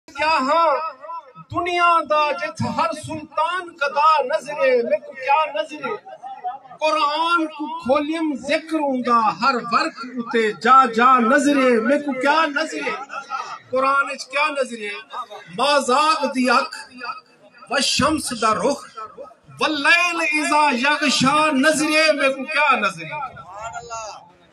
کیا ہاں دنیا دا جتھ ہر سلطان قدا نظرے میکوں کیا نظرے قرآن کوں کھولیم ذکر اوندا ہر ورق اتے جا جا نظرے میکوں کیا نظرے قرآن اچ کیا نظرے مازاغ دی اکھ و شمس دا رخ واللیل اذا یغشا نظرے میں کو کیا نظرے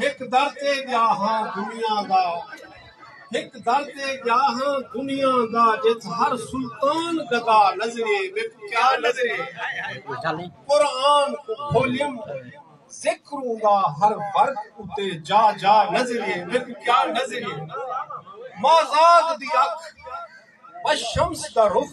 ہک در تے ڳیا ہاں دنیا دا ہک در تے ڳیا ہاں دنیا دا جت ہر سلطان گدا نظرے میکو کیا نظرے قرآن کو کھولیم ذکر ہوندا ہر ورد اتے جا جا نظرے میکو کیا نظرے مازاد دی اکھ بشمس دا رخ